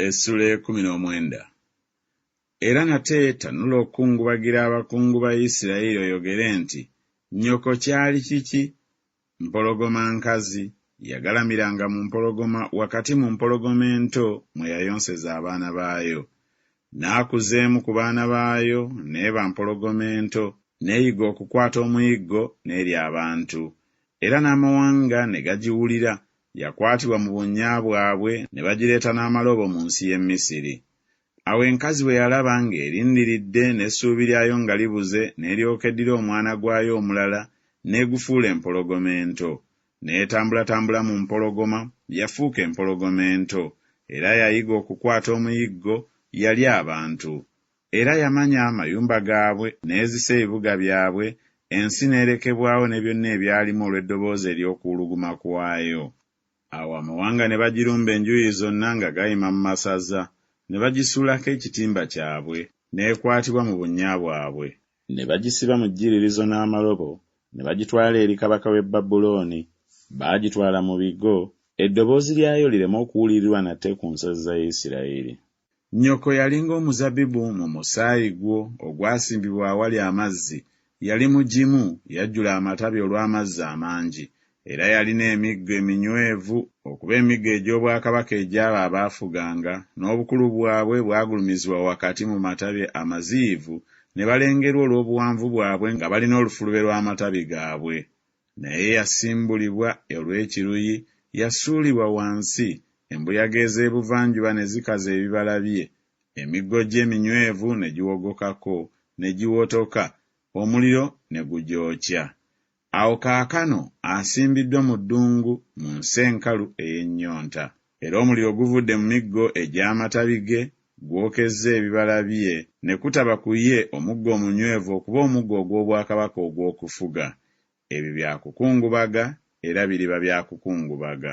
essula ekumi n'omwenda. Era nate tanula okukungubagira abakungu ba Isirayiri oyogere nti, Nnyoko kyali kiki? Mpologoma nkazi, yagalamiranga mu mpologoma wakati mu mpologoma ento mwe yayonseza abaana baayo. N'akuza emu ku baana baayo n'eba mpologoma ento, n'eyiga okukwata omuyiggo n'erya abantu, era n'amawanga ne gagiwulira, yakwatibwa mu bunnya bwabwe ne bagireeta n'amaloobo mu nsi y'e Misiri. Awo enkazi bwe yalaba ng'erindiridde n'essuubi lyayo nga libuze n'eryoka eddira omwana gwayo omulala n'egufuula empologoma ento. N'etambulatambula mu mpologoma, yafuuka empologoma ento, era yayiga okukwata omuyiggo, yalya abantu. Era yamanya amayumba gaabwe, n'ezisa ebibuga byabwe, ensi n'erekebwawo ne byonna ebyalimu olw'eddoboozi ery'okuwuluguma kwayo. Awo amawanga ne bagirumba enjuuyi zonna nga gayima mu masaza, ne bagisuulako ekitimba kyabwe, n'ekwatibwa mu bunnya bwabwe. Ne bagisiba mu jjiririzo n'amalobo, ne bagitwala eri kabaka w'e Babulooni, baagitwala mu bigo, eddoboozi lyayo lireme okuwulirirwa nate ku nsozi za Isirayiri. Nnyoko yalinga omuzabibu mu musaayi gwo ogwasimbibwa awali amazzi, yali mugimu, yajjula amatabi olw'amazzi amangi, era yalina emiggo eminywevu, okuba emiggo egy'obwakabaka egy'abo abaafuganga, n'obukulu bwabwe bwagulumizibwa wakati mu matabi amaziyivu, ne balengerwa olw'obuwanvu bwabwe nga balina olufulube lw'amatabi gaabwe. naye yasimbulibwa olw'ekiruyi, yasuulibwa wansi, embuyaga ez'ebuvanjuba ne zikaza ebibala bye, emiggo gye eminywevu ne giwogokako, ne giwotoka, omuliro ne gugyokya. Awo kaakano asimbiddwa mu ddungu, mu nsi enkalu ey'ennyonta. era omuliro guvudde mu miggo egy'amatabi ge gwokezza ebibala bye ne kutaba ku ye omuggo omunywevu okuba omuggo ogw'obwakabaka ogw'okufuga. Ebyo bya kukungubaga era biriba bya kukungubaga.